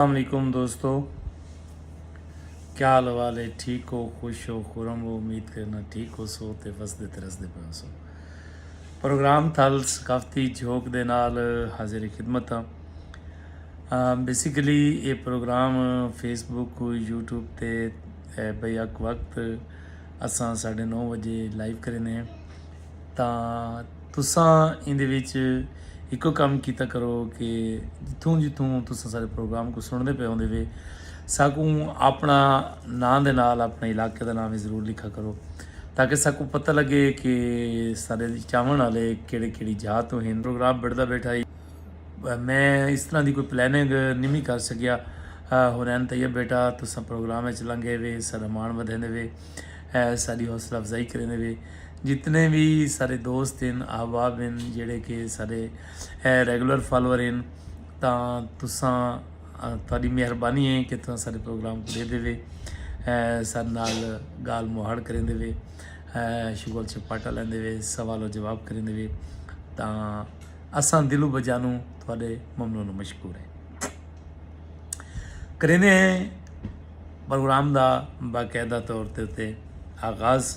السلام علیکم دوستو کیا حال حوال ہے ٹھیک ہو خوش ہو خورم ہو امید کرنا ٹھیک ہو سو تے وسدے تے رسدے پہ ہو سو پروگرام تھل ثقافتی جھوک دے نال حاضر خدمت ہاں بیسیکلی یہ پروگرام فیس بک یوٹیوب تے بیک وقت اساں ساڑھے نو بجے لائیو کرنے ہیں تاں تساں ایندے وچ ہکو کم کیتا کرو کہ جتھوں جتھوں تساں سارے پروگرام کو سنڑ دے پے ہوندے وے ساکوں اپنا ناں دے نال اپنے علاقے دا ناں وی ضرور لکھا کرو تاکہ ساکوں پتہ لگے کہ سارے چاون آلے کیڑی کیڑی جاہ توں ہن۔ پروگرام بنڑدا بیٹھا ہی میں اس طرح دی کوئی پلاننگ نوی کر سکیا ہورین طیب بیٹا تساں پروگرام وچ لنگے وے ساڈا مان ودھیندے وے ساڈی حوصلہ افزائی کریندے وے۔ جتنے وی سارے دوست ہن احباب ہن جیڑے کہ سارے ریگولر فالوور ہن تاں تساں تہاڈی مہربانی ہے کہ تساں سارے پروگرام کو ڈیدھے وے سارے نال گال مہاڑ کریندے وے شغل چپاٹا لیندے وے سوال و جواب کریندے وے تاں اساں دلوں بجانو تہاڈے ممنون و مشکور ہیں کریندے ہیں پروگرام دا باقاعدہ طور تے آغاز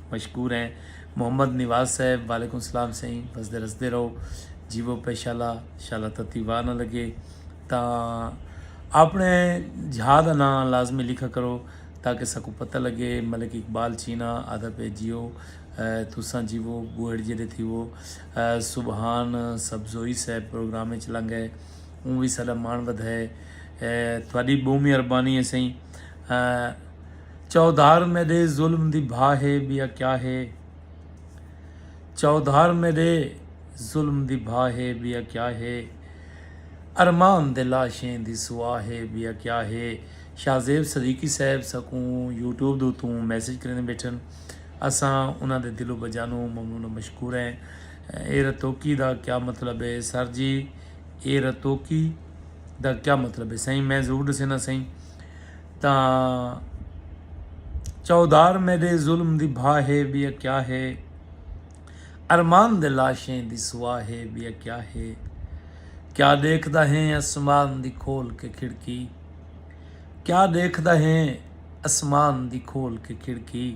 مشکور ہیں محمد نواز صاحب وعلیکم السلام سائیں وسدے رسدے رہو جیوو پے شالا شالا تتی واہ نہ لگے تاں اپنے جھا دا ناں لازمی لکھا کرو تاکہ سکو پتہ لگے ملک اقبال چینا آدھا پے جیو تساں جیوو بوہڑ جیڑے تھیوو سبحان سبزوئی صاحب پروگرام وچ لنگ ہے اون وی ساڈا مان ودھائے تھوڑی بہمی اربانی ہے سائیں چوہدار میݙے ظلم دی بھا ہے ٻیا کیا ہے چوہدار میݙے ظلم دی بھا ہے ٻیا کیا ہے ارمان دے لاشیں دی سوا ہے ٻیا کیا ہے شاہ زیب صدیقی صاحب ساکوں یوٹیوب دے اتوں میسج کریندے بیٹھن اساں انہاں دے دل و بجانوں ممنون و مشکور ہیں اے رتوکی دا کیا مطلب ہے سر جی اے رتوکی دا کیا مطلب ہے سائیں میں ضرور ݙسینا سائیں تاں چوہدار میڈے ظلم دی بھا ہے ٻیا کیا ہے ارمان دے لاشیں دی سوا ہے ٻیا کیا ہے کیا ݙیکھدا ہیں اسمان دی کھول کے کھڑکی کیا ݙیکھدا ہیں اسمان دی کھول کے کھڑکی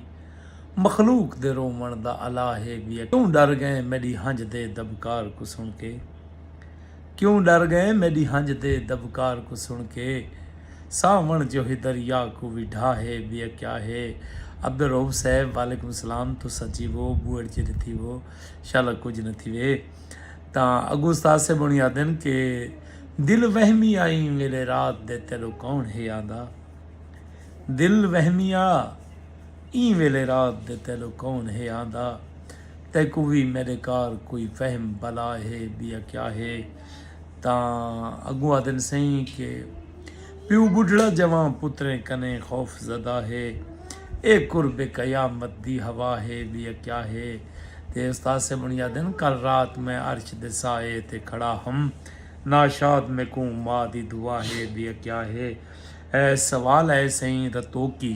مخلوق دے رووݨ دا الا ہے ٻیا کیوں ݙر ڳئیں میݙی ہنڄ دے دٻکار کوں سݨ کے۔ کیوں ڈر گئیں میڈی ہنج دے دبکار کوں سن کے ساون جوہی دریا کوں وی ڈھا ہے بیا کیا ہے عبدالرؤف صاحب وعلیکم السلام تساں جیوو بوئڑ جیڈے تھیوو شالا کجھ نہ تھیوے تاں اگو استاد صاحب ہونی آدن کہ دل وہمی آئیں ویلے رات دے تیڈو کون ہے آندا دل وہمی آ ایں ویلے رات دے تیڈو کون ہے آندا۔ تیکوں وی میݙے کار کوئی فہم بلا ہے ٻیا کیا ہے تاں اڳوں آہدن سئیں کہ پیو ٻڈھڑا جوان پتریں کنیں خوف زدہ ہے اے قرب قیامت دی ہوا ہے ٻیا کیا ہے تے استاد صاحب ہݨی آہدن کل رات میں عرش دے سائے تے کھڑا ہم ناشاد میکوں ماء دی دعا ہے ٻیا کیا ہے اے سوال ہے سئیں رتوکی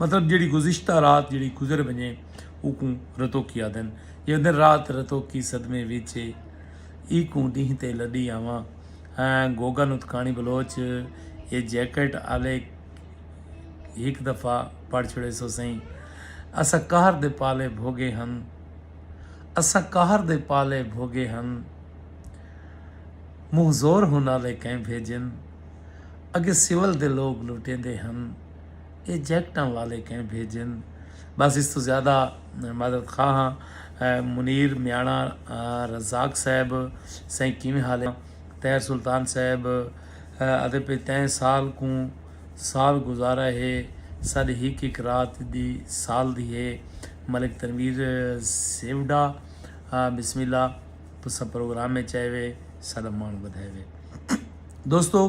مطلب جیڑھی گزشتہ رات جیڑھی گزر ونجے اوکوں رتوکی آدھن۔ جیڑھا دن رات رتوکی صدمے وچ اے ایکوں ڈینہہ تے لڈی آواں ہاں گوگن اتکاݨی بلوچ اے جیکٹ آلے ہک دفعہ پڑھ چھوڑے سو سئیں اساں قہر دے پالے بھوگے ہن اساں قہر دے پالے بھوگے ہن منہ زور ہن آلے کئیں بھیجن اگے سول دے لوگ لٹیندے ہن۔ اے جیکٹاں والے کہیں بھیجن بس اس توں زیادہ معذرت خواہ ہاں منیر میاݨا رزاق صاحب سائیں کیویں حال ہے طاہر سلطان صاحب آدھے پئے تئیں سال کوں سال گزارا ہے ساݙی ہک ہک رات دی سال دی ہے ملک تنویر سیوڈا بسم اللہ تساں پروگرام میں چائے وے ساݙا مان ودھائے وے دوستو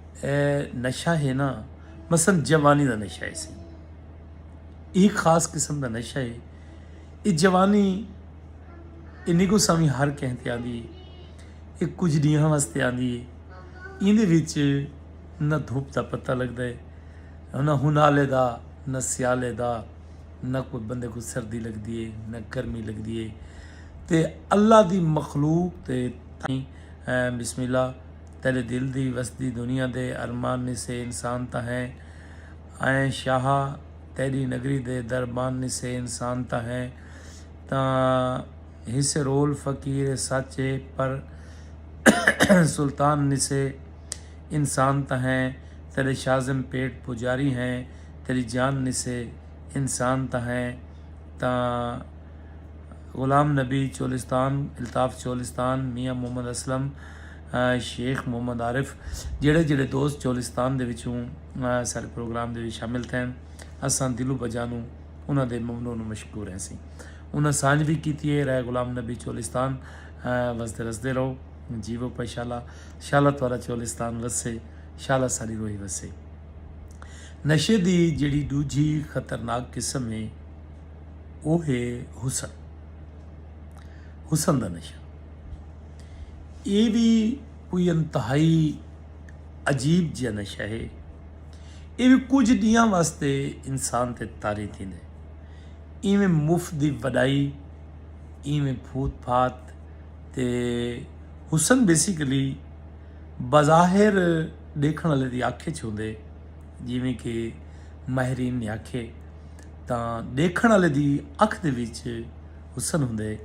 اے نشہ ہے نا مثلا جوانی دا نشہ ہے سی اے خاص قسم دا نشہ ہے اے جوانی اے نگو سامی ہر کہیں تے آندی ہے اے کچھ ڈیہاں واسطے آندی ہے این دے وچ نہ دھوپ دا پتہ لگ دے نہ ہنالے دا نہ سیالے دا نہ کوئی بندے کو سردی لگ دیے نہ گرمی لگ دیے تے اللہ دی مخلوق تے بسم اللہ تیڈے دل دی وسدی دنیا دے ارمان نسے انسان تاں ہیں آئیں شاہا تیڈی نگری دے دربان نسے انسان تاں ہیں تاں ہیسے رول فقیر اے سچ اے پر سلطان نسے انسان تاں ہیں تیڈے شازم پیٹ پجاری ہیں تیڈی جان نسے انسان تاں ہیں تاں غلام نبی چولستان الطاف چولستان میاں محمد اسلم شیخ محمد عارف جیڑھے جیڑھے دوست چولستان دے وچوں ساڈے پروگرام دے وچ شامل تھین اساں دلوں بجانوں انہاں دے ممنون و مشکور ہیسیں انہاں سانجھ وی کیتی ہے رائے غلام نبی چولستان وسدے رسدے رہو جیوو پائے شالا شالا تہاڈا چولستان وسے شالا ساڈی روئی وسے نشے دی جیڑھی ڈوجھی خطرناک قسم ہے او ہے حسن حسن دا نشہ ایہ وی کوئی انتہائی عجیب جیہا نشہ ہے۔ ایہ وی کجھ ڈینہاں واسطے انسان تے طاری تھیندا ہے۔ ایویں مفت دی وڈائی، ایویں پھوت پھات تے حسن بیسیکلی بظاہر ڈیکھن آلے دی اکھ اچ ہوندے ہے۔ جیویں کہ ماہرین نے آکھیے تاں ڈیکھن آلے دی اکھ دے وچ حسن ہوندے ہے۔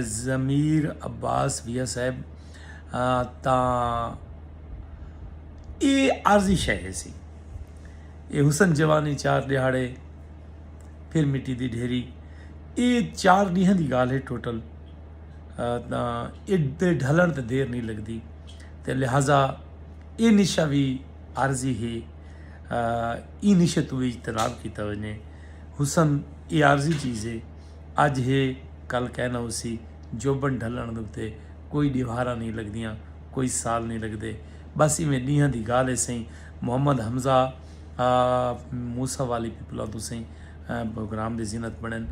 ضمیر عباس بھیا صاحب تاں ایہ عارضی شے ہیسی ایہ حسن جوانی چار ݙیہاڑے پھر مٹی دی ڈھیری ایہ چار ݙینہاں دی ڳالھ ہے ٹوٹل تاں ایݙے ڈھلݨ تے دیر نی لڳدی تے لہٰذا ایہ نشہ وی عارضی ہے ایں نشے توں وی اجتناب کیتا ونڄے حسن ایہ عارضی چیز ہے اج ہے کل کائے نہ ہوسی، جوبن ڈھلنڑ دے اتے کوئی ڈیوہاراں نئیں لگدیاں، کوئی سال نئیں لگدے، بس ایویں ڈینہاں دی گالھ ہے سئیں، محمد حمزہ آ موسی والی پپلاں توں سئیں بھوکرام دی زینت بنڑن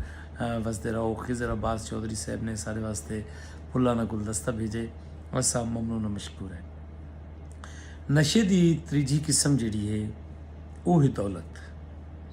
وسدے رہو، خضر عباس چوہدری صاحب نے اساڈے واسطے پھلاں دا گلدستہ بھیجے، اساں ممنون و مشکور ہیں۔ نشے دی تریجھی قسم جیہڑی ہے او ہے دولت۔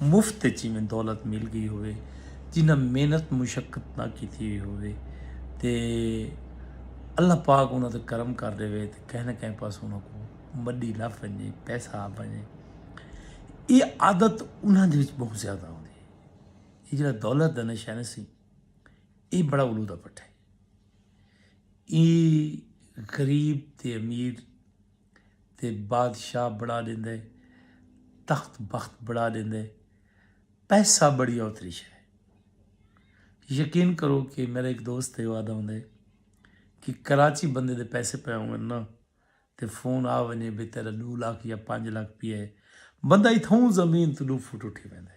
مفت اچ ایویں دولت مل گئی ہووے جنہاں محنت مشقت نہ کیتی ہوئی ہووے تے اللہ پاک انہاں تے کرم کر ڈیوے تے کہیں نہ کہیں پاسوں انہاں کو مڈی لبھ ونجے پیسہ آ ونجے اے عادت انہاں دے وچ بہت زیادہ ہوندی اے جڑا دولت دا نشہ نہ سی اے بڑا الو دا پٹھا اے اے غریب تے امیر تے بادشاہ بنا ڈیندے تخت بخت بنا ڈیندے پیسہ بڑی اوتری شے یقین کرو کہ میرا ایک دوست ہے وعدہ ہوندے کہ کراچی بندے دے پیسے پے ہون نا تے فون آ ونجے بے تیرا دو لاکھ یا پانچ لاکھ پی ہے بندہ اتھوں زمین تو دو فٹ اٹھی ویندے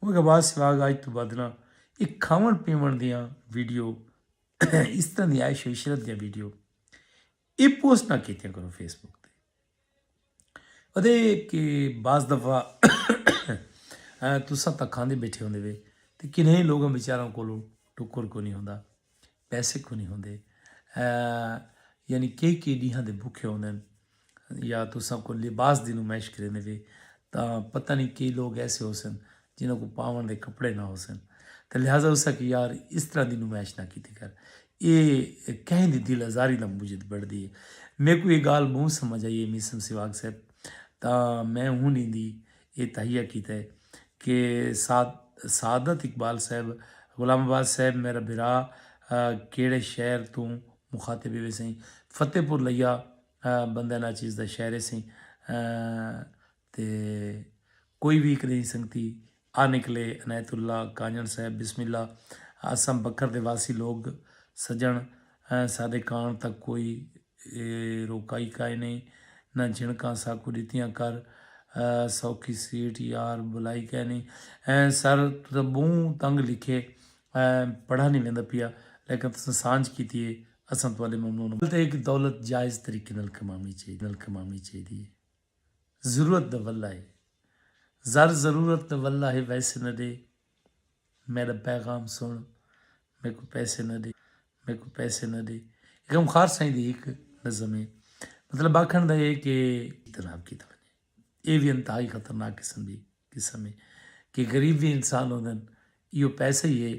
اوہ گھباس سراغ آج توں بدھ نہ اے کھاون پیون دیاں ویڈیو اس طرح دی عیش و عشرت دیاں ویڈیو اے پوسٹ نہ کیتیاں کرو فیس بک تے ادے کہ بعض دفعہ تساں تاں کھاندے بیٹھے ہوندے وے تے کنہیں لوگاں بیچاراں کولو ٹکر کونی ہوندا۔ پیسے کونی ہوندے یعنی کئی کئی ڈیہاں دے بھوکے ہوندے یا تساں کو لباس دی نمائش کریندے وے تا پتہ نہیں کئی لوگ ایسے ہو سن جنہاں کو پاون دے کپڑے نہ ہو سن تے لہذا اسا کہ یار اس طرح دی نمائش نہ کیتی کر اے کہیں دی دل آزاری دا موجد بڑھ دی ہے میکو یہ گال بہت سمجھ آئی ہے میسم سواگ صاحب تا میں ہن ایندی اے تہیہ کیتے کہ سعادت اقبال صاحب، غلام عباس صاحب میرا بھرا کیہڑے شہر توں مخاطب ہوئے سئیں۔ فتح پور لیا بندہ نا چیز دا شہر ہے سئیں تے کوئی وی ہک نئیں سنگتی آ نکلے عنایت اللہ کانجݨ صاحب بسم اللہ اساں بکر دے واسی لوگ سجݨ سادے کاݨ تک کوئی اے روکائی کائنی نہ جھنکاں ساکوں ڈتیاں کر سوکھی سیٹ یار بلائی کائنی سر تساں بہوں تنگ لکھے پڑھا نی ویندا پیا لیکن تساں سانجھ کیتی اے اساں تہاڈے ممنون ہاں۔ دولت جائز طریقے نال کماونی چاہیدی اے۔ ضرورت دا ولہ ہے زر ضرورت دا ولہ ہے ویسے نہ ڈے میڈا پیغام سن میکو پیسے نہ ڈے میکو پیسے نہ ڈے غم خار سائیں دی ہک نظم ہے مطلب آکھن دا ہے کہ جناب کی تو اے وی انتہائی خطرناک قسم دی قسم ہے کہ غریب وی انسان ہوندن ایو پیسے ہی ہے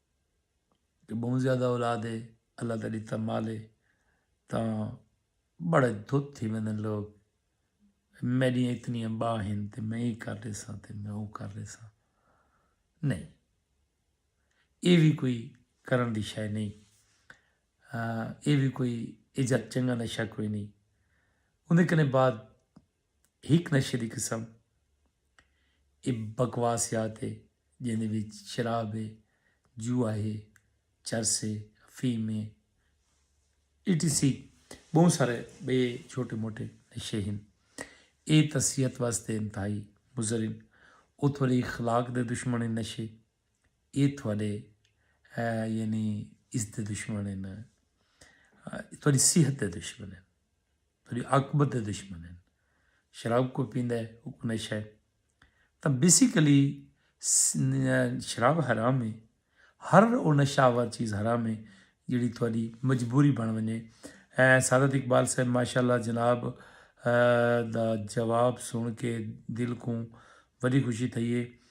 کہ بہوں زیادہ اولاد ہے اللہ دا ڈتا مال ہے تاں بڑا دھت تھی ویندن لوگ میڈی اتنی با ہیں تے میں یہ کر لے ساں تے میں وہ کر لے ساں نہیں یہ بھی کوئی کرن دی شے نہیں یہ بھی کوئی ایجا چنگا نشہ کوئی نہیں اندے کنے بعد ہک نشے دی قسم اے بکواسیات اے جیندے وچ شراب اے، جوا اے، چرس اے، افیم اے، ای ٹی سی ٻہوں سارے ٻئے چھوٹے موٹے نشے ہن۔ اے تاں صحت واسطے انتہائی مضر ہن۔ او تھوڑے اخلاق دے دشمن ہن نشے۔ اے تھوڑے یعنی اس دے دشمن ہن۔ تھوڑی صحت دے دشمن ہن۔ تیڈی عاقبت دے دشمن ہن۔ شراب کوئی پیندا ہے اوکوں نشہ ہے۔ تاں بیسیکلی شراب حرام ہے۔ ہر او نشہ آور چیز حرام ہے جیڑھی تہاڈی مجبوری بن ونجے۔ سعادت اقبال صاحب ماشاء اللہ جناب دا جواب سن کے دل کوں وڈی خوشی تھئی ہے۔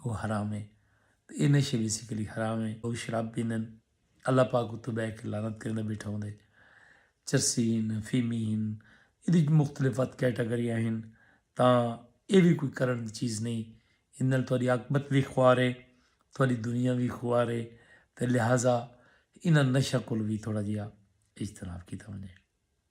او حرام ہے تے اے نشے بیسیکلی حرام ہے او شراب پیندن اللہ پاک اتوں بہ کے لعنت کریندا بیٹھا ہوندے چرسی ہن فیمی ہن ایدی مختلف ات کیٹاگریاں ہن تاں اے وی کوئی کرن دی چیز نہیں ایں نال تہاڈی عاقبت وی خوار ہے تہاڈی دنیا وی خوار ہے تے لہذا انہاں نشہ کول وی تھوڑا جیا اجتناب کیتا ونجے۔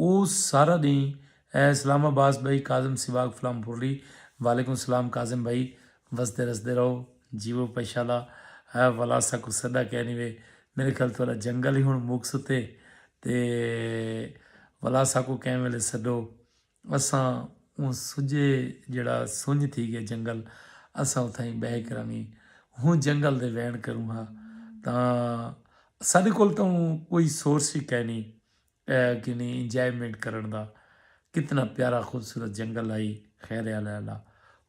او سارا ڈینہہ اسلام آباس بھائی کاظم سواگ فلام پورلی وعلیکم سلام کاظم بھائی وسدے رسدے رہو جیو پیشالا اے ولا ساکو سدا کینی وے میرے خیال تھوڑا جنگل ہی ہن مک ستے تے ولا ساکو کین ویلے سڈو اساں اوں سجھے جیڑھا سنج تھی گئے جنگل اساں اتھائیں بہہ کرانگیں ہوں جنگل دے وین کروں ہاں تاں ساڈے کول تاں اوں کوئی سورس ہی کائنی کینی انجوائمنٹ کرن دا کتنا پیارا خوبصورت جنگل ہائی خیر علی اللہ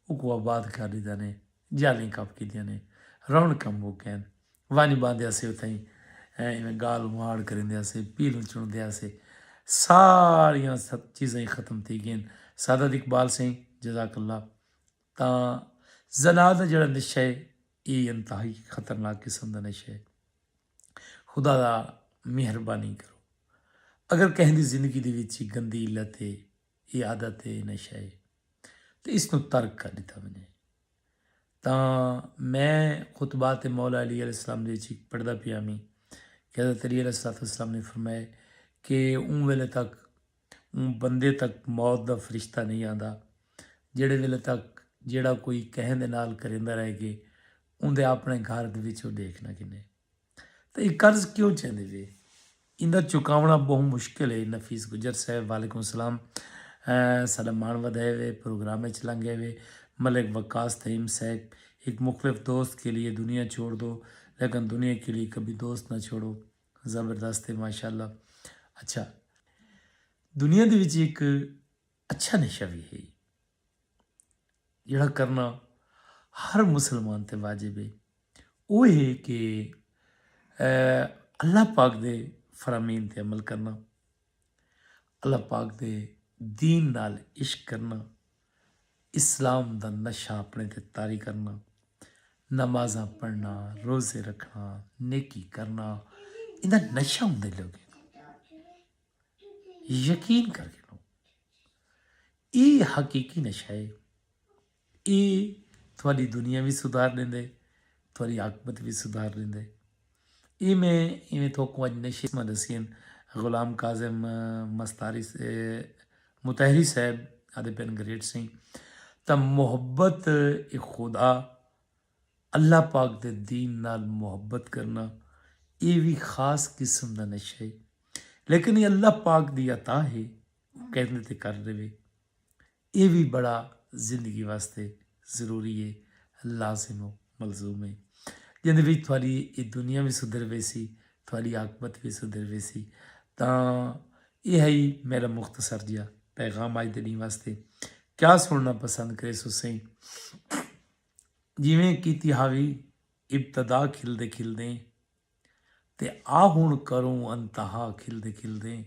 اوکوں آباد کر ڈیتا نے جالیں کپ کیتیاں نے رونقاں مک گئین۔ ونڄ ٻہندے ہسے اتھائیں ایویں ڳالھ مہاڑ کریندے ہسے پیلوں چݨدے ہسے ساریاں چیزاں ہی ختم تھی ڳئین سعادت اقبال سئیں جزاک اللہ تاں زنا دا جڑا نشہ ہے اے انتہائی خطرناک قسم دا نشہ ہے خدا دا مہربانی کرو اگر کہیں دی زندگی دی وچ گندی علت ہے اے عادت اے نشہ اے تے اس توں ترک کر ڈتا ونجے تاں میں خطبات مولا علی علیہ السلام دے وچ پڑھدا پیا ویں کہ حضرت علی علیہ الصلوۃ والسلام نے فرمائے کہ اوں ویلے تک اوں بندے تک موت دا فرشتہ نہیں آندا جڑے ویلے تک جڑا کوئی کہیں دے نال کریندا رہ گئے اون دے اپنے گھر دے وچ او دیکھنا کنے تاں اے قرض کیوں چیندے وے؟ ایندا چکاوݨا ٻہوں مشکل اے، نفیس گجر صاحب وعلیکم السلام ساݙا ماݨ ودھائے وے، پروگرام اچ لنگھے وے، ملک وقاص تھئیم صاحب ہک مخلف دوست کے لیے دنیا چھوڑ دو لیکن دنیا کے لیے کبھی دوست نہ چھوڑو زبردست اے ماشاءاللہ اچھا دنیا دے وچ ہک اچھا نشہ وی ہئی جیڑھا کرنا ہر مسلمان تے واجب ہے او ہے کہ اللہ پاک دے فرامین تے عمل کرنا اللہ پاک دے دین نال عشق کرنا اسلام دا نشہ اپنے تے طاری کرنا نمازاں پڑھنا روزے رکھنا نیکی کرنا انہاں نشہ ہوندے لوگوں یقین کر گھنو اے حقیقی نشہ ہے اے تھوڑی دنیا بھی سدھار دیندے تھوڑی عاقبت بھی سدھار دیندے اے میں ایویں تھوکوں اج نشے میں دسین غلام کاظم مستاری متحری صاحب آدھے پین گریٹ سنگھ تا محبت خدا اللہ پاک دے دین نال محبت کرنا ایہ وی خاص قسم دا نشہ ہے لیکن ایہ اللہ پاک دی عطا ہے او کہندے تے کر ݙیوے ایہ وی بڑا زندگی واسطے ضروری ہے لازم و ملزوم ہے جیندے وچ تہاݙی ایہ دنیا وی سدھر ویسی تہاݙی عاقبت وی سدھر ویسی تاں ایہ ہئی میرا مختصر جیا پیغام اج دے ݙینہ واسطے کیا سننا پسند کریسو سئیں جیویں کیتی ہاوی ابتدا کھلدے کھلدیں تے آ ہنڑ کروں انتہا کھلدے کھلدیں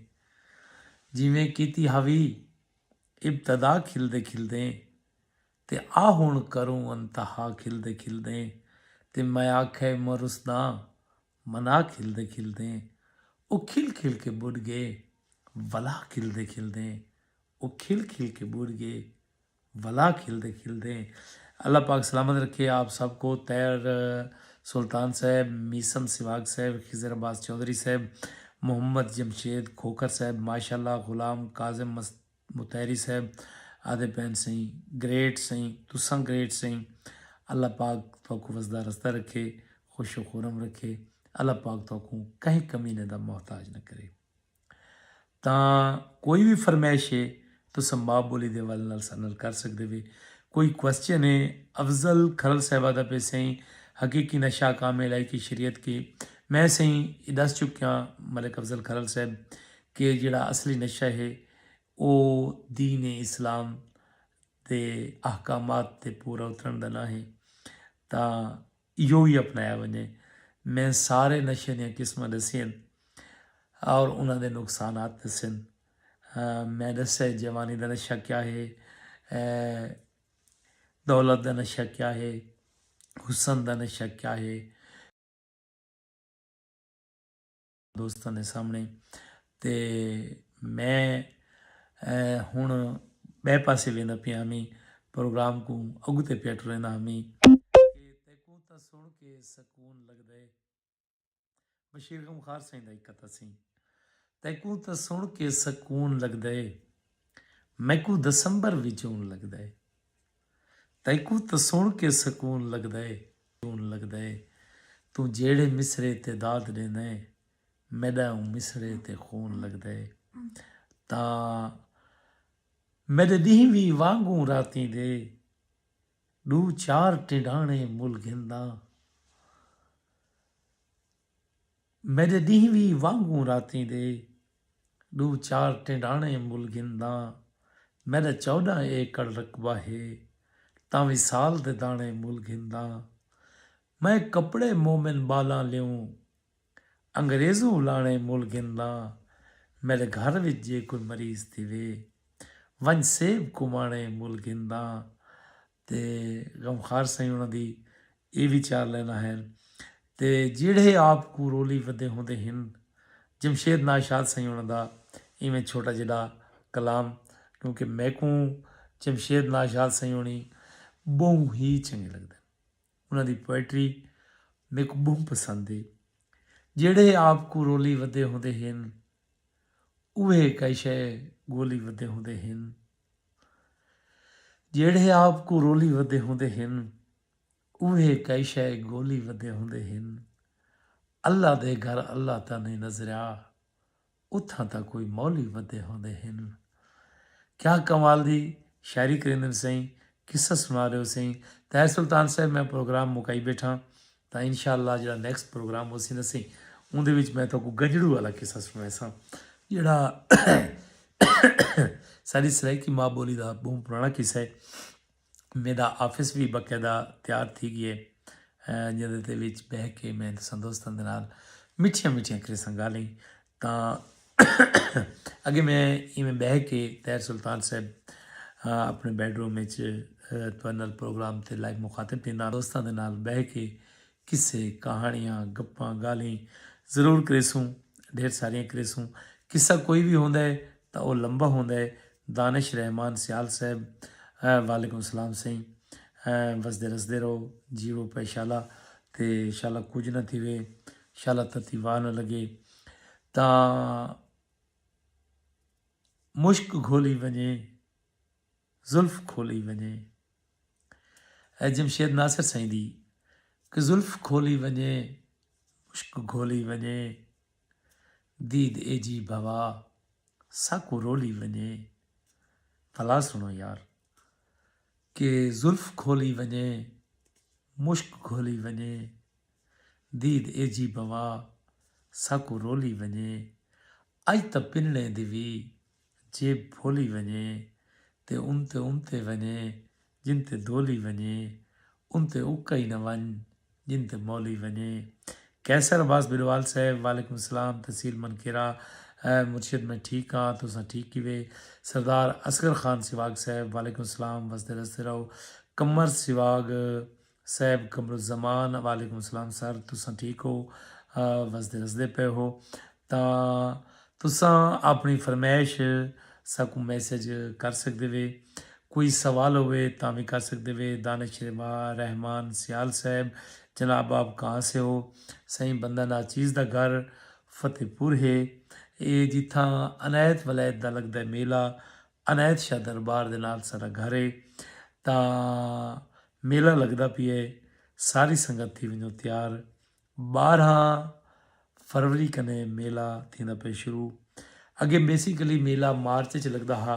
جیویں کیتی ہاوی ابتدا کھلدے کھلدیں تے آ ہنڑ کروں انتہا کھلدے کھلدیں تے میں آکھے مرس داں منا کھلدے کھلدیں او کھل کھل کے بڈھ گئے ولا کھلدے کھلدیں او کھل کھل کے بڈھ گئے ولا کھلدے کھلدے اللہ پاک سلامت رکھے آپ سب کو طاہر سلطان صاحب میثم سواگ صاحب خضر عباس چوہدری صاحب محمد جمشید کھوکھر صاحب ماشاءاللہ غلام کاظم مطہری صاحب آدھے پین سئیں گریٹ سئیں تساں گریٹ سئیں اللہ پاک تہاکوں وسدا رسدا رکھے خوش و خورم رکھے اللہ پاک تہاکوں کہیں کمینے دا محتاج نہ کرے تاں کوئی وی فرمائش اے تساں ماء بولی دے حوالے نال ساڈے نال کر سگدے وے۔ کوئی کوسچن اے افضل کھرل صاحبہ دا پے سئیں حقیقی نشہ کام اے الائی کے شریعت کے میں سئیں اے دس چکیاں ملک افضل کھرل صاحب کے جیڑا اصلی نشہ اے او دین اسلام دے احکامات تے پورا اترن دا نہ اے تاں ایہو ہی اپنایا ونجے۔ میں سارے نشے دیاں قسماں ڈسیاں ہن اور انہاں دے نقصانات ڈسے ہن۔ میں ڈسیا ہے جوانی دا نشہ کیا ہے، دولت دا نشہ کیا ہے، حسن دا نشہ کیا ہے۔ دوستاں دے سامنے تے میں ہن بئے پاسے ویندا پیا ہمی پروگرام کوں اگتے پیا ٹریندا ہمی تیکوں تاں سن کے سکون لگدا ہے بشیر غم خار سائیں دا ایک قطعہ سی تیکوں تاں سن کے سکون لگدا ہے میکوں دسمبر وچ اون لگدا ہے تیکوں تاں سݨ کے سکون لڳدا اے توں جیڑھے مصرعے تے داد ݙیندا ایں میݙا اوں مصرعے تے خون لڳدا اے تاں میݙے ݙینہہ وی وانگوں راتیں دے ݙو چار ٹنڈاݨے مل گھنداں۔ میݙے ݙینہہ وی وانگوں راتیں دے ݙو چار ٹنڈاݨے مل گھنداں میݙا چوݙاں ایکڑ رقبہ ہے تاں وی سال دے داݨے مل گھنداں میں کپڑے مومن ٻالاں لیوں انگریزوں الاݨے مل گھنداں میݙے گھر وچ جے کوئی مریض تھیوے ونڄ سیب کوں ماݨے مل گھنداں تے غم خار سئیں انہاں دی ایہ وی چار لائناں ہن تے جیڑھے آپ کوں رولی ودے ہوندے ہن۔ جمشید ناشاد سئیں انہاں دا ایویں چھوٹا جیڈا کلام کیونکہ میکوں جمشید ناشاد سئیں ہونی بہوں ہی چنگے لگدے ہن۔ انہاں دی پوئٹری میکوں بہوں پسند ہے۔ جیڑھے آپ کوں رولی ودے ہوندے ہن اوہے کئی شئے گولی ودے ہوندے ہن۔ جیڑھے آپ کوں رولی ودے ہوندے ہن اوہے کئی شئے گولی ودے ہوندے ہن اللہ دے گھر اللہ تاں نئیں نظریا اتھاں تاں کوئی مولی ودے ہوندے ہن کیا کمال دی شاعری کریندن سئیں قصہ سنا رہے ہو سئیں طاہر سلطان صاحب میں پروگرام مکائی بیٹھا تاں انشاءاللہ جیڑھا نیکسٹ پروگرام ہوسی نا سیں اوندے وچ میں تہاکوں گجڑو والا قصہ سنڑائیساں جیڑھا ساڈی سرائیکی ماں بولی دا بہوں پرانا قصہ ہے میڈا آفس بھی باقاعدہ تیار تھی گئے جیندے تے وچ بہ کے میں تساں دوستاں دے نال مٹھیاں مٹھیاں کریساں گالیں تاں اگے میں ایویں بہہ کے طاہر سلطان صاحب اپنے بیڈ روم اچ تہاڈے نال پروگرام تے لائیو مخاطب تھینداں دوستاں دے نال بہہ کے قصے کہانیاں گپاں گالھیں ضرور کریسوں ڈھیر ساریاں کریسوں قصہ کوئی وی ہوندا ہے تاں او لمبا ہوندا ہے دانش رحمان سیال صاحب وعلیکم السلام سئیں وسدے رسدے رہو جیوو پئے شالا تے شالا کجھ نہ تھیوے شالا تتی واہ نہ لگے تاں مشک گھولی ونجے زلف کھولی ونجے اے جمشید ناصر سائیں دی کہ زلف کھولی ونجے مشک گھولی ونجے دید اے جی بھوا ساکو رولی ونجے بھلا سنو یار کہ زلف کھولی ونجے مشک گھولی ونجے دید ایجھی بوا ساکوں رولی ونجے اج تاں پنڑیں دی وی جیب پھولی ونجے تے امتے امتے ونجے جن تے دولی ونجے امتے اکا ای نہ ونج جن تے مولی ونجے قیصر عباس بھلوال صاحب وعلیکم السلام تحصیل منکیرہ مرشد میں ٹھیک ہاں تساں ٹھیک کیوے سردار اصغر خان سیواگ صاحب وعلیکم السلام وسدے رسدے رہو قمر سیواگ صاحب قمر الزمان وعلیکم السلام سر تساں ٹھیک ہو وسدے رسدے پے ہو تا تساں اپنی فرمائش ساکوں میسج کر سکدے وے کوئی سوال ہوئے تاں وی کر سکدے وے دانش ربا رحمان سیال صاحب جناب آپ کہاں سے ہو سائیں بندہ ناچیز دا گھر فتح پور ہے اے جتھاں عنایت ولایت دا لگدا ہے میلہ عنایت شاہ دربار دے نال ساڈا گھر اے تاں میلہ لگدا پیا اے ساری سنگت تھی ونجو تیار بارہاں فروری کنے میلہ تھیندا پے شروع اگے بیسیکلی میلہ مارچ اچ لگدا ہا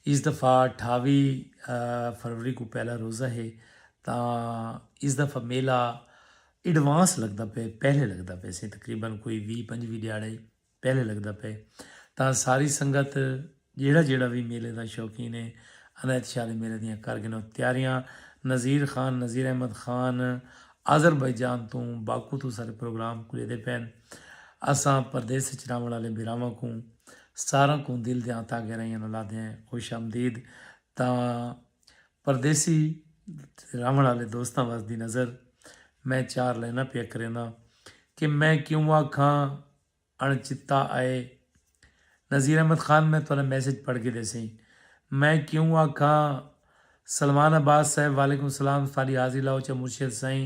اس دفعہ اٹھاوی فروری کو پہلا روزہ ہے تاں اس دفعہ میلہ ایڈوانس لگدا پے پہلے لگدا پے سی تقریبا کوئی وی پنجوی دیہاڑے پہلے لگدا پئے تاں ساری سنگت جیڑھا جیڑھا وی میلے دا شوقین اے عنایت شاہ دے میلے دیاں کر گھنو تیاریاں نذیر خان نذیر احمد خان آذربائیجان توں باکو توں سارے پروگرام کلیدے پئن اساں پردیس اچ رہوݨ آلے بھیراواں کوں ساراں کوں دل دیاں تہہ گہرائیاں نال آدھیاں خوش آمدید تاں پردیسی تے رہوݨ آلے دوستاں وس دی نظر میں چار لائناں پیا کرینداں کہ میں کیوں آکھاں اݨ چتا آئے نذیر احمد خان میں تہاݙا میسج پڑھ گھدے سئیں میں کیوں آکھاں سلمان عباس صاحب وعلیکم سلام تہاݙی حاضری لا اچا مرشد سائیں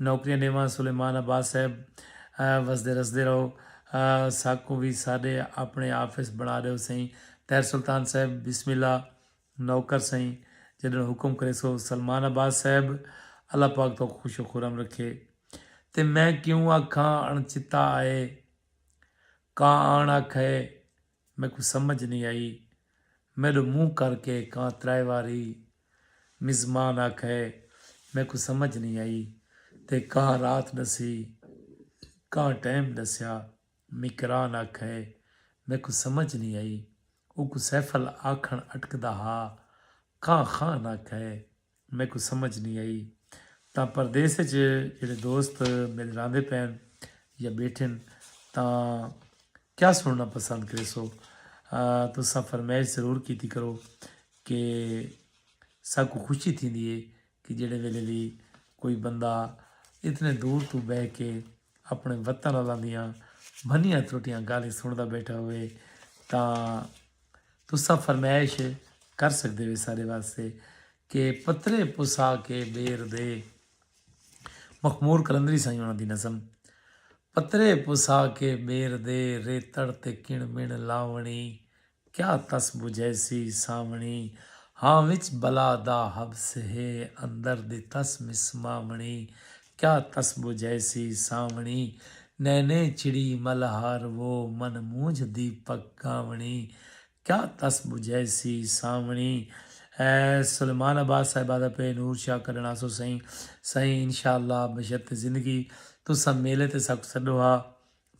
نوکریاں ݙیواں سلیمان عباس صاحب وسدے رسدے رہو ساکوں وی ساݙے آپݨے آفس بݨا ݙیو سئیں طاہر سلطان صاحب بسم اللہ نوکر سئیں جݙݨ حکم کریسو سلمان عباس صاحب اللہ پاک تہاکوں خوش و خرم رکھے تے میں کیوں آکھاں اݨچتا آئے کاں آݨ آکھئے میکوں سمجھ نئیں آئی میݙو منہ کر کے کاں ترائے واری مزمان آکھئے میکوں سمجھ نئیں آئی تے کاں رات ݙسی کاں ٹائم ݙسیا۔ میکران آکھئے میکوں سمجھ نی آئی۔ اوکوں سیفل آکھݨ اٹکدا ہا۔ کاں خان آکھئے میکوں سمجھ نی آئی۔ تاں پردیس اچ جیڑھے دوست میݙے راہندے پئن یا ٻیٹھن تاں کیا سݨݨا پسند کریسو؟ تساں فرمائش ضرور کیتی کرو کہ ساکوں خوشی تھیندی اے کہ جیڑھے ویلے وی کوئی بندہ اتنے دور توں بہہ کے اپنے وطن والاں دیاں بھنیاں ترٹیاں گالھیں سنڑدا بیٹھا ہوئے تاں تساں فرمائش کر سکدے وے سارے واسطے کہ پترے پسا کے بیر دے مخمور کلندری سائیں انہاں دی نظم پترے پسا کے بیر دے ریتڑ تے کن من لاونی کیا تس بجھیسی سانوݨی۔ ہاں وچ بلا دا حبس ہے اندر دی تس مسماوݨی کیا تس بجھیسی سانوݨی نینے چڑی ملہار وہ من مونجھ دی پک گاوݨی کیا تس بجھیسی سانوݨی۔ سلیمان عباس صاحبہ دا پئے نور شاہ کڈھݨ آسوں سئیں سئیں انشاءاللہ بشرط زندگی تساں میلے تے ساکوں سڈو ہا۔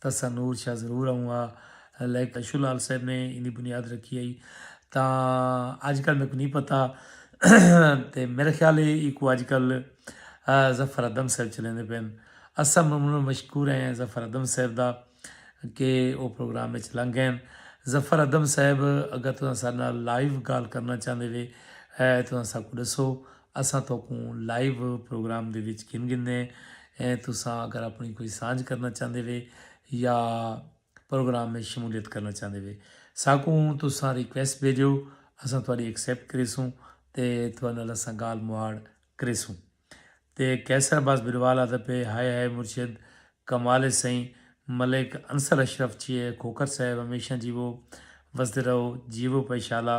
تساں نور شاہ ضرور آؤں ہا لیکن اشو لال صاحب نے ایندی بنیاد رکھی ہئی تاں اج کل میکوں نہیں پتہ تے میرا خیال ہے ایکو اج کل ظفر ادم صاحب چلیندے پین اساں ممنون و مشکور ہیں ظفر ادم صاحب دا کہ او پروگرام وچ لنگ گئے ظفر ادم صاحب اگر تساں ساڈے نال لائیو گال کرنا چاہندے وے تساں ساکوں ڈسو اساں توکوں لائیو پروگرام دے وچ گھن گھندے ہیں تساں اگر اپنی کوئی سانجھ کرنا چاہندے وے یا پروگرام میں شمولیت کرنا چاہندے وے ساکوں تساں ریکویسٹ بھیجو اساں تہاڈی ایکسپٹ کریسوں تے تہاڈے نال اساں گال مہاڑ کریسوں تے قیصر عباس بھلوال آدھا پے ہائے ہائے مرشد کمال ہے سئیں ملک انصر اشرف چیئے کھوکھر صاحب ہمیشہ جیوو وسدے رہو جیوو پائیشالا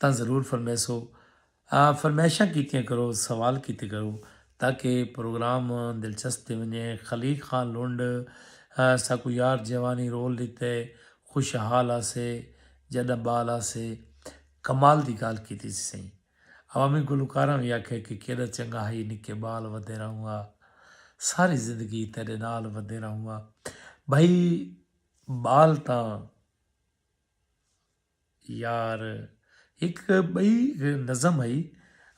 تاں ضرور فرمیسو فرمائشاں کیتیاں کرو سوال کیتے کرو تاکہ پروگرام دلچسپ تھی ونجے خلیق خان لنڈ ساکو یار جوانی رول ڈتے خوشحال آسے جڈاں بال آسے کمال دی گال کیتی سی سائیں عوامی گلوکاراں وی آکھے کہ کیڈا چنگا ہئی نکے بال ودے رہونگا ساری زندگی تیڈے نال ودے رہونگا بھائی بال تاں یار ہک ٻئی نظم ہئی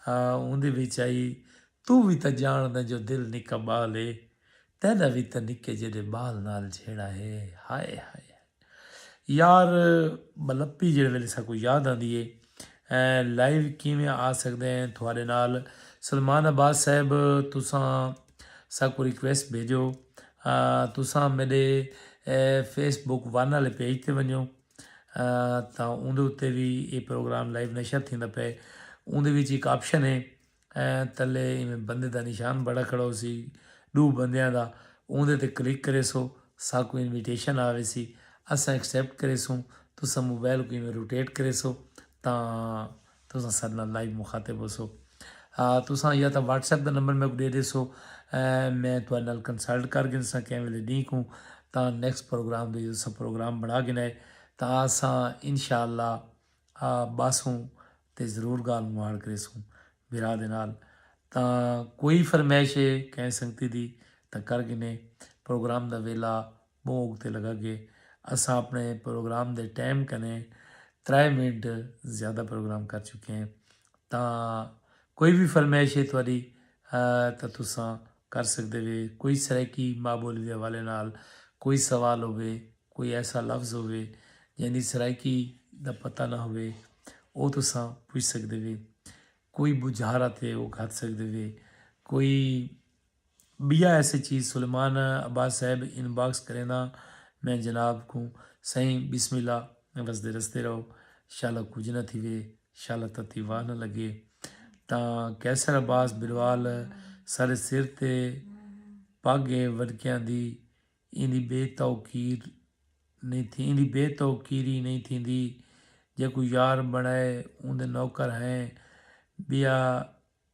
اوندے وچ ہئی توں وی تاں جانڑدے جو دل نکا ٻال ہے تیڈا وی تاں نکے جیڈے ٻال نال جھیڑا ہے ہائے ہائے یار ملپی جیڑے ویلے ساکو یاد آندی ہے لائیو کیویں آ سکدے ہیں تھوڑے نال سلمان عباس صاحب تساں ساکوں ریکویسٹ بھیجو تساں میڈے فیس بک ون والے پیج تے ونجو تاں اوندے اتے وی اے پروگرام لائیو نشر تھیندا پئے اوندے وچ ایک آپشن ہے تلے ایویں بندے دا نشان بڑا کھڑا ہوسی ڈو بندیاں دا اوندے تے کلک کرے سو ساکوں انویٹیشن آوے سی اساں ایکسپٹ کرے سوں تساں موبائل کو ایویں روٹیٹ کرے سو تاں تساں ساڈے نال لائیو مخاطب ہوسو تساں یا تاں واٹس ایپ دا نمبر میکوں ڈے ڈیسو میں تہاڈے نال کنسلٹ کر گھنساں کئیں ویلے ڈینہہ کوں تاں نیکسٹ پروگرام دے اساں پروگرام بنا گھنا ہے تاں اساں انشاءاللہ باسوں تے ضرور گالھ مہاڑ کریسوں بھرا دے نال تاں کوئی فرمائش ہے کئیں سنگتی دی تاں کر گھنے پروگرام دا ویلا موک تے لگا کہ اساں اپنے پروگرام دے ٹائم کنے ترائے منٹ زیادہ پروگرام کر چکے ہیں تاں کوئی وی فرمائش ہے تہاڈی تاں تساں کر سکدے وے کوئی سرائیکی ماں بولی دے حوالے نال کوئی سوال ہووے کوئی ایسا لفظ ہووے جیندی سرائیکی دا پتہ نہ ہووے او تساں پچھ سکدے وے کوئی بجھارت ہے او گھد سکدے وے کوئی ٻیا ایسے چیز سلیمان عباس صاحب ان باکس کرینداں میں جناب کوں سائیں بسم اللہ وسدے رستے رہو شالا کجھ نہ تھیوے شالا تتی واہ نہ لگے تاں قیصر عباس بروال سارے سر تے پگ ہے وڈکیاں دی ایندی بے توقیر نہیں تھی ایندی بے توقیری نہیں تھیندی جیکوں یار بنڑائے اوندے نوکر ہیں ٻیا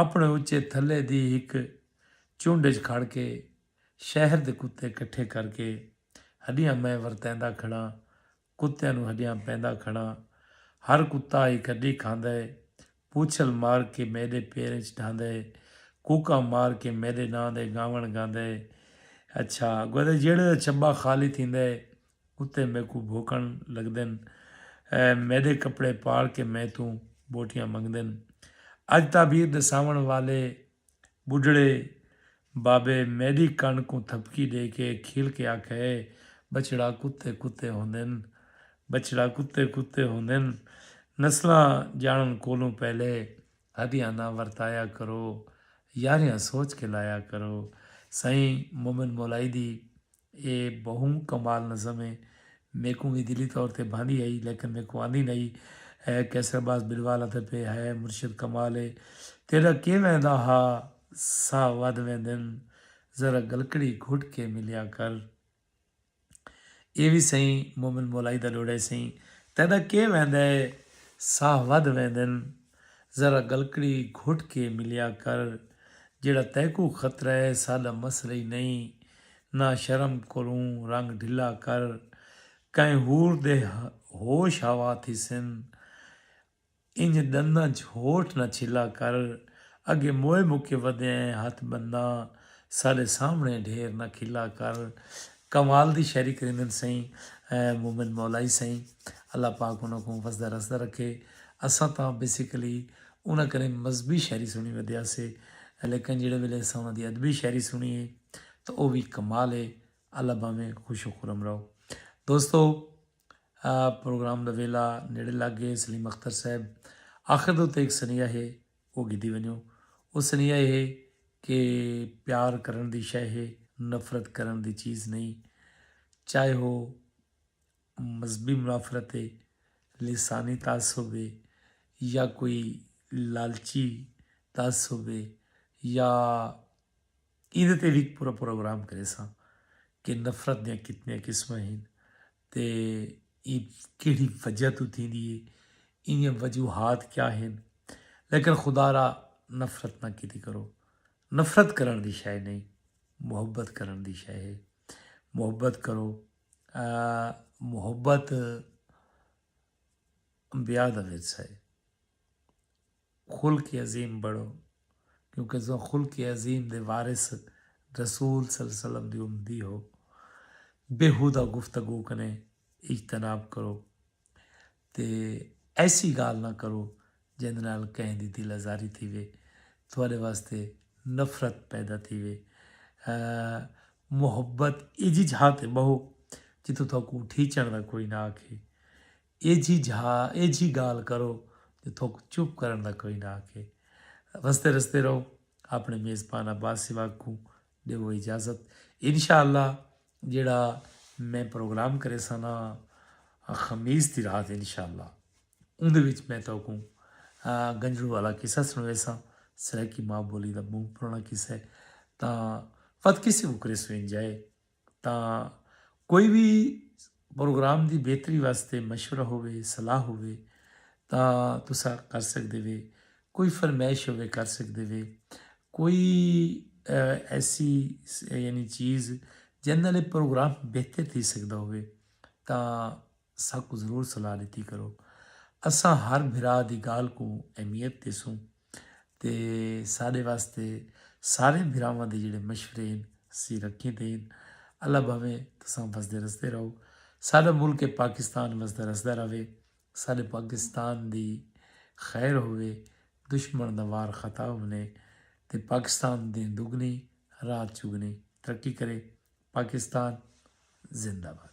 اپݨے اچے تھلے دی ہک چنڈ اچ کھڑ کے شہر دے کتے کٹھے کر کے ہݙیاں میں ورتیندا کھڑاں، کتیاں نوں ہݙیاں پیندا کھڑاں، ہر کتا ہک ہݙی کھاندا ہے، پوچھل مار کے میݙے پیریں اچ ڈھاندا ہے، کوکاں مار کے میݙے ناں دے گاوݨ گاندا ہے، اچھا گودا جیڑھے دا چھبا خالی تھیندا ہے اتے میکوں بھوکن لگدن اے میڈے کپڑے پاڑ کے میں توں بوٹیاں منگدن اج تعبیر ڈساون والے بڈھڑے بابے میڈی کن کوں تھپکی ڈے کے کھیل کے آکھے اے بچڑا کتے کتے ہوندن بچڑا کتے کتے ہوندن نسلاں جانن کولوں پہلے ہڈیاں نہ ورتایا کرو یاریاں سوچ کے لایا کرو سائیں مومن مولائی دی اے بہوں کمال نظم ہے۔ میکوں وی دلی طور تے بھاندی ہئی لیکن میکوں آندی نئی ہے۔ قیصر باز بلوال آندے پئے ہائے مرشد کمال ہے تیڈا کیویں دا ہا ساہ ودھ ویندن ذرا گلکڑی گھٹ کے ملیا کر۔ اے وی سئیں مومن مولائی دا ڈوڈا ہے سئیں تیڈا کیویں دا ساہ ودھ ویندن۔ ذرا ڳلکڑی گھٹ کے ملیا کر جیڑھا تیکوں خطرہ ہے ساݙا مسئلہ ای نئیں نا شرم کولوں رنگ ڈھلا کر کہیں ہور دے ہوش ہوا تھیسن انج ݙنداں چ ہوٹھ نا چھلا کر اگے موئے مکے ودیاں ہیں ہتھ ٻنداں ساݙے سامھݨے ڈھیر نا کھلا کر کمال دی شاعری کریندن سئیں مومن مولائی سئیں اللہ پاک انہاں کوں وسدا رسدا رکھے اساں تاں بیسیکلی انہاں کرے مذہبی شاعری سنڑی ودیا سے لیکن جیڑھے ویلے اساں انہاں دی ادبی شاعری سنڑی ہے تاں او وی کمال ہے اللہ باویں خوش و خرم رہو دوستو پروگرام دا ویلا نیڑے لگ گئے سلیم اختر صاحب آخر دے تے ایک سنیہ ہے او گھدی ونجو۔ او سنیہا اے ہے کہ پیار کرݨ دی شئے ہے، نفرت کرݨ دی چیز نئیں۔ چاہے او مذہبی منافرت اے، لسانی تعصب اے یا کوئی لالچی تعصب اے یا ایندے تے وی پورا پروگرام کریساں کہ نفرت دیاں کتنیاں قسماں ہن۔ تے ایں کیڑھی وجہ توں تھیندی ہے ایندیاں وجوہات کیا ہن لیکن خدا را نفرت نہ کیتی کرو نفرت کرن دی شے نہیں محبت کرن دی شے ہے محبت کرو محبت انبیاء دا ورثہ ہے خلق عظیم بڑھو کیوں کہ تساں خلق عظیم دے وارث رسول صلی اللہ علیہ وسلم دی امتی ہو۔ بیہودہ گفتگو کنیں اجتناب کرو تے ایسی گالھ نہ کرو جیندے نال کہیں دی دل آزاری تھیوے تہاڈے واسطے نفرت پیدا تھیوے۔ محبت ایجھی جھاں تے بہو جتھوں تہاکوں اٹھیچݨ دا کوئی نہ آکھے۔ ایجھی جھا ایجھی گال کرو جو تھوک چپ کرن دا کوئی نہ آکھے رستے رستے رہو اپنے میزبان عباس سواگ کو دیو اجازت انشاءاللہ جیڑا میں پروگرام کرے سنا خمیس دی رات انشاءاللہ اون دے وچ میں تو کو گنجڑو والا قصہ سنوے سا سرائیکی ماں بولی دا منہ پرانا قصہ ہے تا فت کسی کو کرے سو انجائے تاں کوئی وی پروگرام دی بہتری واسطے مشورہ ہووے صلاح ہووے تاں تساں کر سکدے وے کوئی فرمائش ہووے کر سکدے وے کوئی ایسی یعنی چیز جن نال پروگرام بہتر تھی سکدا ہووے تاں ساکو ضرور صلاح ڈتی کرو اساں ہر بھرا دی گال کو اہمیت دیسوں تے ساڈے واسطے سارے بھراواں دے جڑے مشورے ہیں سی رکھیں تے ہیں اللہ بھاویں تساں وسدے رسدے رہو ساڈا ملک پاکستان وسدا رسدا رہے ساڈے پاکستان دی خیر ہوے دشمن دا وار خطا ہونے تے پاکستان دین دگنی رات چگنی ترقی کرے پاکستان زندہ باد